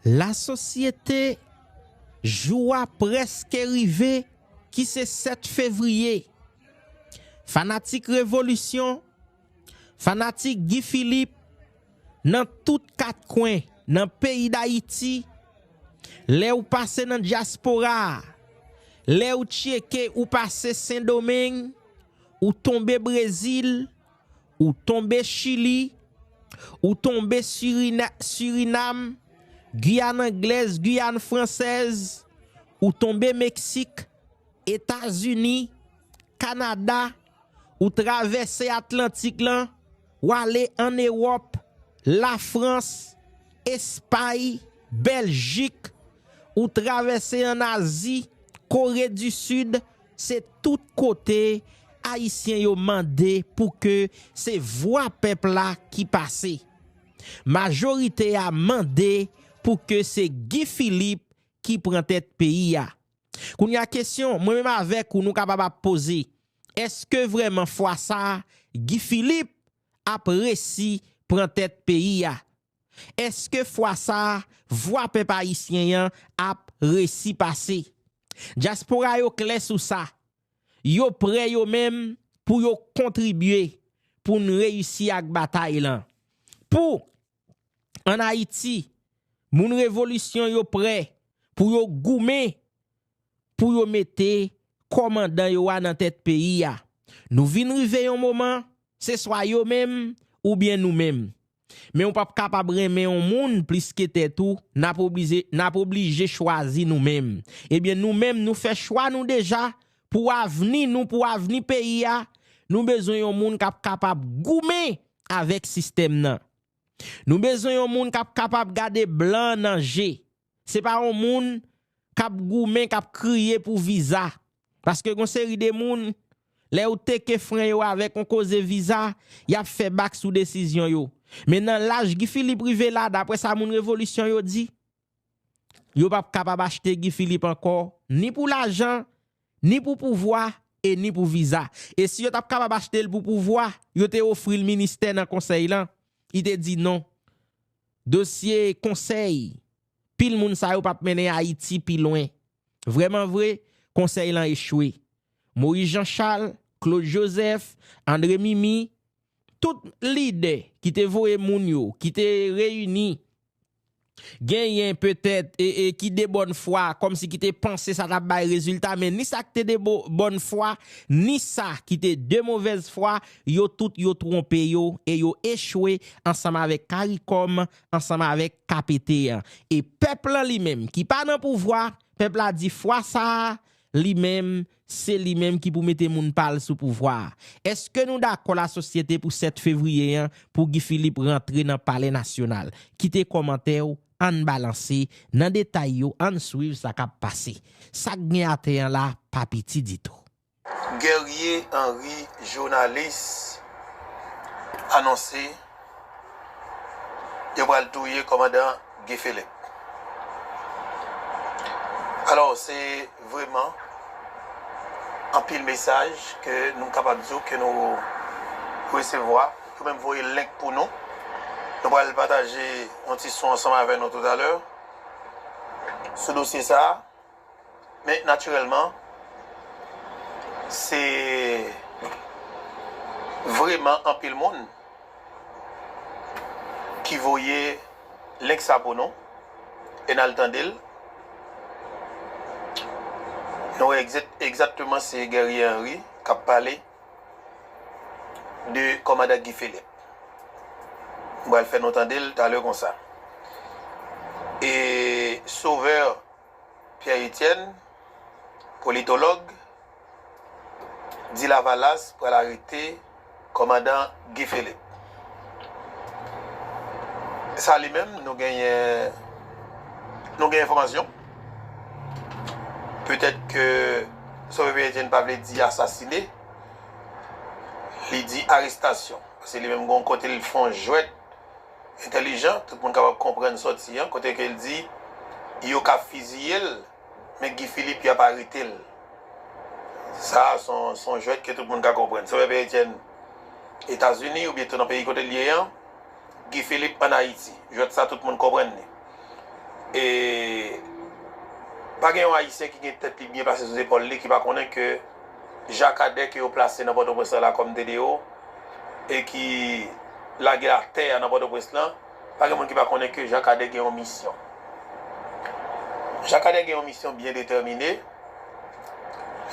La sosyete, Jou a prèske rive ki se 7 fevriye. Fanatik revolisyon, fanatik Guy Philippe nan tout kat kwen nan peyi Dayiti, lè ou pase nan dyaspora a, lè ou tyeke ou pase Sendomeng, ou tonbe Brezil, ou tonbe Chili, ou tonbe Sirinam, Guyane Anglèz, Guyane Fransèz, ou tonbe Meksik, Etazini, Kanada, ou travèse Atlantik lan, w ale ann Ewòp, Lafrans, Espay, Bèljik, ou travèse ann Azi, Kore di Sid, se tout kote Ayisyen yo mande pou ke se vwa pèp la ki pase. Majorite a mande pou ke se Guy Philippe ki pran tèt peyi a. Kounye a kesyon mwen menm avèk ou nou kapab ap poze, èske vrèman fwa sa a Guy Philippe ap resi pran tèt peyi a? Èske fwa sa a vwa pèp ayisyen an ap resi pase? Dyaspora yo klè sou sa, yo prè yo menm pou yo kontribye pou n reyisi ak batay lan. Pou. an Ayiti, moun revolisyon yo prè pou yo goumen pou yo mete kòmandan yo a nan tèt peyi a. Nou vin rive yon moman, se swa yo menm oubyen nou menm. Men ou p ap kapab renmen yon moun plis ke tèt ou, n ap oblije, n ap oblije chwazi nou menm. Ebyen nou menm nou fè chwa nou deja pou avni nou, pou avni peyi a, nou bezwen yon moun k ap kapab goumen avèk sistèm nan. Nou bezwen yon moun k ap kapab gade blan nan je, se pa yon moun k ap goumen, k ap kriye pou viza. Paske gen yon seri de moun, lè ou teke fren yo avèk yon koze viza, y ap fè bak sou desizyon yo. Men nan laj Guy Philippe rive la, daprè sa moun revolisyon yo di, Yo pap kapab achte Guy Philippe ankò ni pou lajan, ni pou pouvwa e ni pou viza. E si yo tap kapab achte l pou pouvwa, yo te ofri l ministè nan konsèy lan, li te di non. Dosye konsèy pil moun sa yo pap mennen Ayiti pi lwen. Vreman vre, konsèy lan echwe. Moïse Jean Charles, Claude Joseph, André Mimi, tout lidè ki te voye moun yo, ki te reyini Genyen, petèt, ki de bòn fwa, kòmsi ki te panse sa t ap bay rezilta, men ni sa k te de bòn fwa, ni sa ki te de movèz fwa, yo tout yo twonpe yo, e yo echwe ansanm avèk Karikòm, ansanm avèk Kapete an. E pèp lan li menm, ki pa nan pouvwa, pèp la di fwa sa a, li menm, Se li menm ki pou mete moun pa l sou pouvwa a. Eske nou dakò lasosyete pou 7 fevriye an pou Guy Philippe rantre nan palè nasyonal? Kite kòmantè w, ann balanse nan detay yo ann swiv sa k ap pase. Sa k gen atè an la pa piti ditou. Guerrier Henri Journaliste anonse. Yo pral touye komandan Guy Philip. Alò se vreman anpil mesaj ke nou kapab di w ke nou resevwa. Yo menm voye link pou nou. Nou pral pataje yon ti son ansanm avè nou toutalè sou dosye sa a. Men natirèlman se vreman anpil moun ki voye link sa pou nou e n al tande l. Nou wè egzatteman se Guerrier Henri k ap pale de kòmandan Guy Philippe. M pral fè nou tande l talè konsa. E Sauveur. Pierre Etienne, politològ, di Lavalas pral arete kòmandan Guy Philippe. Sa li menm nou genyen, nou gen enfòmasyon. Petèt ke Sove Pierre Etienne pa vle di asasine, li di arestasyon. Paske li menm gen yon kote li fè yon jwèt. entèlijan, tout moun kapab konprann sòti an, kote ke l di, yo ka fiziye l, men Guy Philippe y ap arete l. Sa a s on jwèt ke tout moun ka konprann. Sè Pè Etyèn, Etazini oubyen tou nan peyi kote l ye an, Guy Philippe an Ayiti. Jwèt sa a tout moun konprann li. E pa gen yon Ayisyen ki gen tèt li byen plase sou zepòl li ki pa konnen ke Ja Kadè ke yo plase nan Pòtoprens lan la kòm DDO e ki lage atè a nan Pòtoprens lan, pa gen moun ki pa konnen ke Ja Kadè gen yon misyon. Ja Kadè gen yon misyon byen detèmine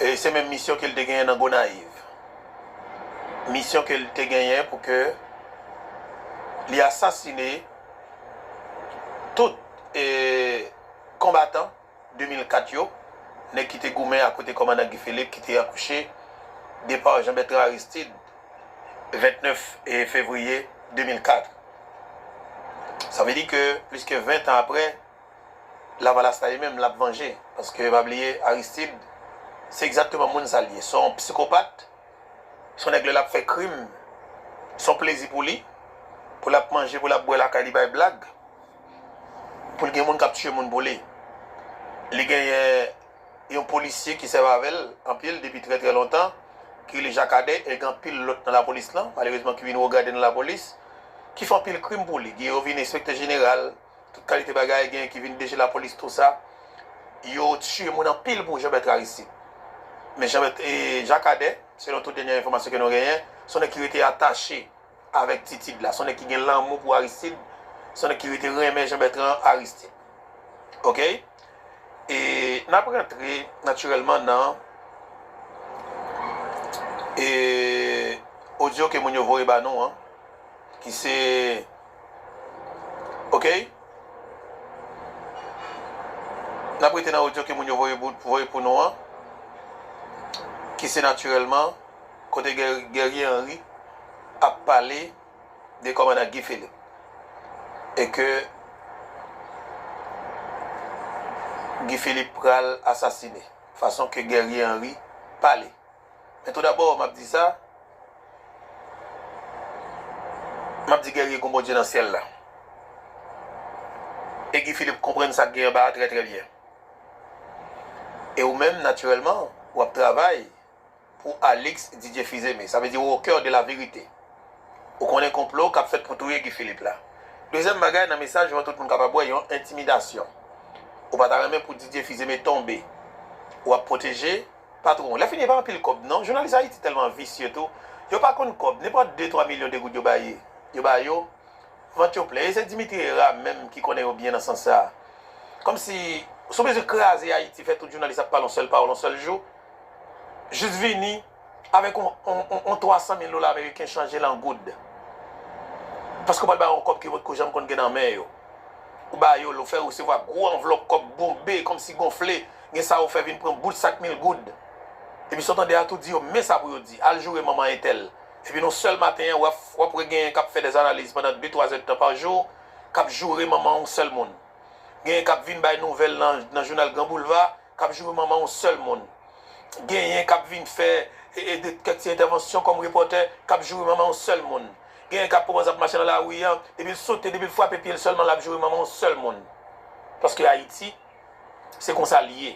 e se menm misyon ke li te genyen nan Gonayiv. Misyon ke li te genyen pou ke li asasine. Tout konbatan 2004 yo, nèg ki te goumen akote kòmandan Guy Philippe ki te akouche depa Jean Bertrand Aristide 29 fevriye 2004. Sa vle di ke plis ke 20 tan aprè, Lavalas la li menm l ap vanje. Paske pa bliye Aristide se egzakteman moun sa l ye, se yon psikopat. Son nèg lè lap fè krim son plezi pou li, pou lap manje, pou lap bwè lakay li bay blag, poul gen moun kap tiye moun pou li. Li genyen yon polisye ki sèvi avèl anpil depi trè trè lontan ki rele Jakadè e gen anpil lòt nan lapolis lan malerezman ki vin wogade nan lapolis ki fè anpil krim pou li. Gen yo vin enspektè jeneral. Tout kalite bagay gen ki vin DG lapolis tou sa yo tiye moun anpil pou Jean Bertrand Aristide. Men Jean Bertrand e Jacques Cadet selon tout dènyè enfòmasyon ke nou genyen son nèg ki rete atache avèk Titid la son nèg ki gen lanmou pou Aristide son nèg ki rete renmen Jean Bertrand Aristide ok e nap rantre natirèlman nan e odyo ke moun yo voye ba nou an ki se Ok Nap rete nan audio ke moun yo voye pou nou an ki se natirèlman kote Guerrier Henry ap pale de kòmandan Guy Philippe e ke Guy Philippe pral asasine fason ke Guerrier Henry pale. Men tou dabò map di sa, map di Guerrier gon Bondye nan syèl la. E Guy Philippe konprann sak gen anba a trè trè byen. E ou menm natirèlman wap travay pou Alix Didier Fils-Aimé. Sa vle di ou au cœur de la vérité. Ou konnen konplo kap fèt pou touye Guy Philippe la. Dezyèm bagay nan mesaj ou an tout moun kapab wè yon entimidasyon. Ou pa ta renmen pou Didier Fils-Aimé tonbe. Ou ap pwoteje. Patron, lè fini e pa anpil kòb non. Jounalis Ayiti tèlman visye tou. Yo pa konn kòb. Nenpòt de twa milyon de goud yo ba ye, yo ba yo. Vant yo plen. E se Dimitri Hera menm ki konnen yo byen nan sans sa a. Kòm si, sou mezi kraze Ayiti, fè tout jounalis ap pale yon sèl pawòl yon sèl jou. Jis vini avèk yon, yon, yon twa san mil dola ameriken chanje l an goud. Paske yo pral ba yo yon kòb ke yo potko janm konn gen nan men yo. Ou ba yo l, ou fè resevwa gwo anvlòp kòb bonbe, kòm si gonfle. Gen sa ou fè vin pran bout sak mil goud. Epi sa ou tande a tou di yo men sa pou yo di. Al joure manman entèl. Epi nan yon sèl maten an wap wè genyen kap fè des analiz pandan de twa zè de tan pa jou kap joure manman yon sèl moun. Genyen kap vin bay nouvèl nan jounal gran boulva kap joure manman yon sèl moun. Genyen kap vin fè kèk ti entèvansyon kòm repòtè kap joure manman yon sèl moun. Genyen kap kòmanse ap mache nan lari an depil sote depil frape pyel sèlman lap joure manman yon sèl moun. Paske Ayiti. Se konsa li ye.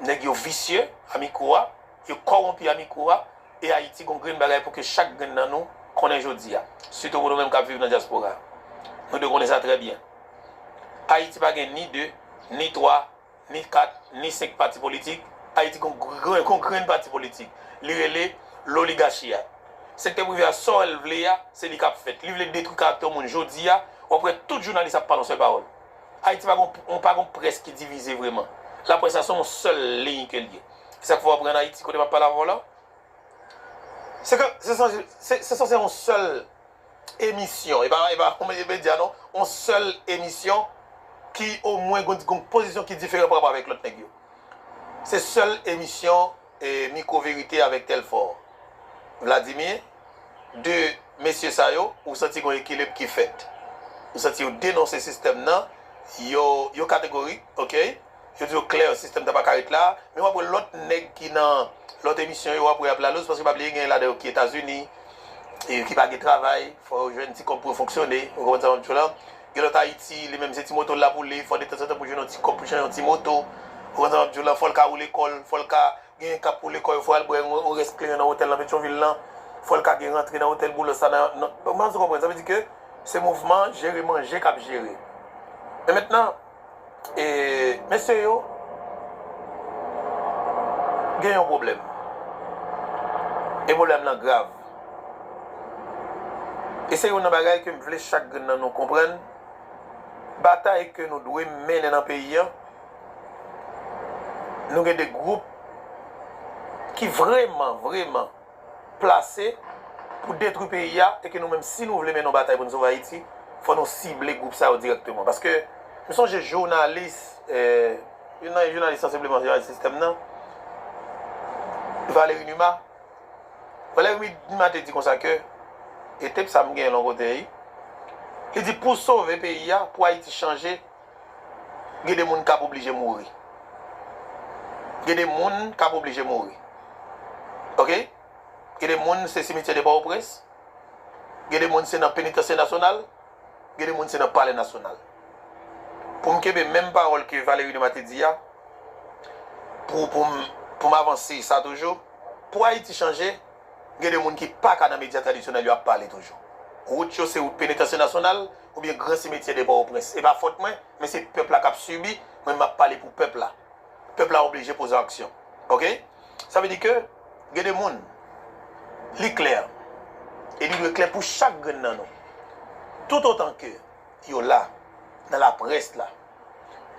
Nèg yo visye a mikro a, yo kowonpi a mikro a, e Ayiti gon grenn bagay pou ke chak grenn nan nou konnen jodi a. Sitou pou nou menm kap viv nan dyaspora. Nou dwe konnen sa trè byen. Ayiti pa gen ni 2, ni 3, ni 4, ni 5 pati politik. Ayiti gon gon grenn pati politik. Li rele loligachi a. Sektè prive a sa l vle a, se li kap fèt. Li vle detwi karaktè yon moun jodi a, wap wè tout jounalis ap pale yon sèl pawòl. Ayiti pa gon pa gon près ki divize vreman. Laprès la se yon sèl liy ke l ye. E sa k fè w ap wè an Ayiti kote m ap pale avè w la, se ke se sanse se sanse yon sèl emisyon e pa e pa yon medya non, yon sèl emisyon ki omwen gon gon pozisyon ki diferan parapò avèk lòt nèg yo. Se sèl emisyon. Micro verite avek telfor Vladimir 2 mesye sa yo ou santi gon ekilib ki fèt ou santi yo denonse sistèm nan yo yo kategorik ok yo di yo klè sistèm ta paka ret la men wap wè lòt nèg ki nan lòt emisyon yo wap wè yap laloz paske pa bliye gen ladan yo ki etazini ki pa gen travay fò yo jwenn ti kòb pou yo fonksyone ou konprann sa map di w la Gen lòt Ayiti, li menm se ti moto l lap woule, fò detanzantan pou jwenn yon ti kòb pou chan yon ti moto. Ou konn sa map di w la, fò l ka woule kò l, fò l ka genyen kap woule kò yo, fò al bwè yon rès kleren nan otèl nan Petyonvil lan, fò l ka gen rantre nan otèl Boulos la nan, nan, m pa konn si w konprann, sa vle di ke se mouvman jere manje kap jere. Men mentnan. E mesye yo gen yon pwoblèm. E pwoblèm lan grav. E se youn nan bagay ke m vle chak grenn nan nou konprann, batay ke nou dwe mennen nan peyi an, nou gen de gwoup ki vreman, vreman. plase pou detwi peyi a e ke nou menm si nou vle mennen yon batay pou nou sove Ayiti, fò nou sible gwoup sa yo dirèkteman. Paske m sonje jounalis, youn nan jounalis sansibleman jounalis sistèm nan, Valéry Numa, Valéry Numa te di konsa ke, e tep sa m genyen l yon kote, li di pou sove peyi a, pou Ayiti chanje, Gen de moun kap oblije mouri. Gen de moun kap oblije mouri. Ok. Gen de moun se simityè de Pòtoprens. Gen de moun se nan Penitansye Nasyonal. Gen de moun se nan Palè Nasyonal. Pou m kenbe menm pawòl ke Valery Numa te di a, pou pou m avanse sa toujou, pou Ayiti chanje, gen de moun ki paka nan medya tradisyonèl yo ap pale toujou. Wout yo se wout Penitansye Nasyonal, oubyen gran simetyè de Pòtoprens. Se pa fòt mwen, men se pèp la k ap sibi, mwen m ap pale pou pèp la. Pèp la oblije poze aksyon. Ok? Sa vle di ke gen de moun, li klè, e li dwe klè pou chak grenn nan nou, toutotan ke yo la nan laprès la,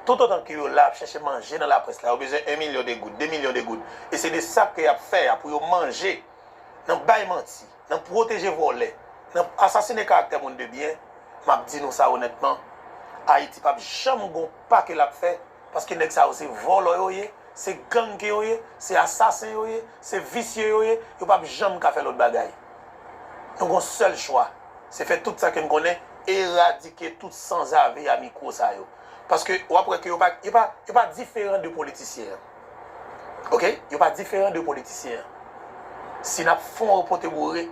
toutotan ke yo la ap chache manje nan laprès la, yo bezwen 1 milyon de goud, 2 milyon de goud, e se de sa ke y ap fè a pou yo manje nan bay manti. nan pwoteje vòlè, nan asasine karaktè moun de byen, m ap di nou sa onètman, Ayiti pap janm gon pa ke l ap fè, paske nèg sa yo se vòlò yo ye, se gang ke yo ye, se asasen yo ye, se visye yo ye, yo pap janm ka fè lòt bagay. Nou gon sèl chwa, se fè tout sa ke n konnen, eradike tout sanzave a mikwo sa yo. Paske w ap wè ke yo pa, yo pa, yo pa diferan de politisyen an. Ok yo pa diferan de politisyen an si nap fon yon pote boure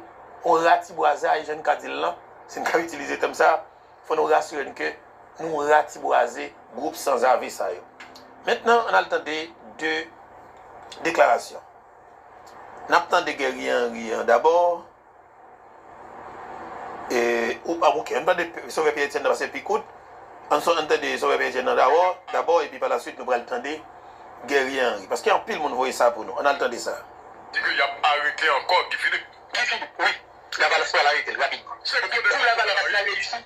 yon ratibwazay jan n ka di l lan si n ka itilize tèm sa fò nou rasire n ke nou ratibwaze gwoup sanzave sa yo mentnan ann al tande 2 deklarasyon nap tande Guerrier Henry an dabò Ok, ann tande Sovè Pyè Etyèn nan pase pi kout. Ann tande Sovè Pyè Etyèn nan dabò epi palaswit nou pral tande Guerrier Henri. Paske anpil moun voye sa pou nou. Ann al tande sa. Di ke yap arete ankò Guy Philippe. Guy Philippe, wi. Lavalas pral arete l, rapid. Se gwo deba Lavalas la reyisi.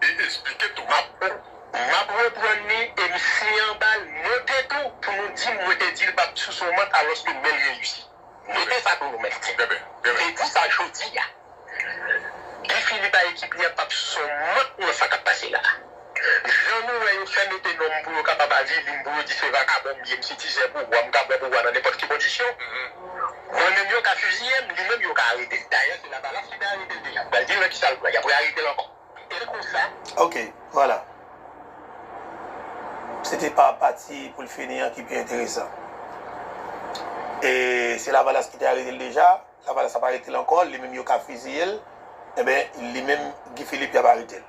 e esplike tou map map reprann li e m siye anba l note tou pou nou di m mwen te di l pap sous yon mant alòske men l reyisi note sa pou nou mèt m te di sa jodi a Guy Philippe a ekip li a pap sous yon mant nan sa kap pase la jan nou wè yo fè mete non m pou yo kapab avili m pou yo di se vakabon m ye m se tizè pouvwa m ka pran pouvwa nan nenpòt ki kondisyon mwen menm yo ka fiziye m li menm yo ka arete l dayè se lavalas ki te arete l deja m pral di nou nan kisa l pran y apre arete l ankò. Kite l konsa. Ok, vwala. Se te pa pati pou l fini an ki pi enteresan. E se Lavalas ki te arete l deja, Lavalas ap arete l ankò, li menm yo ka fiziye l, enben li menm Guy Philippe y ap arete l.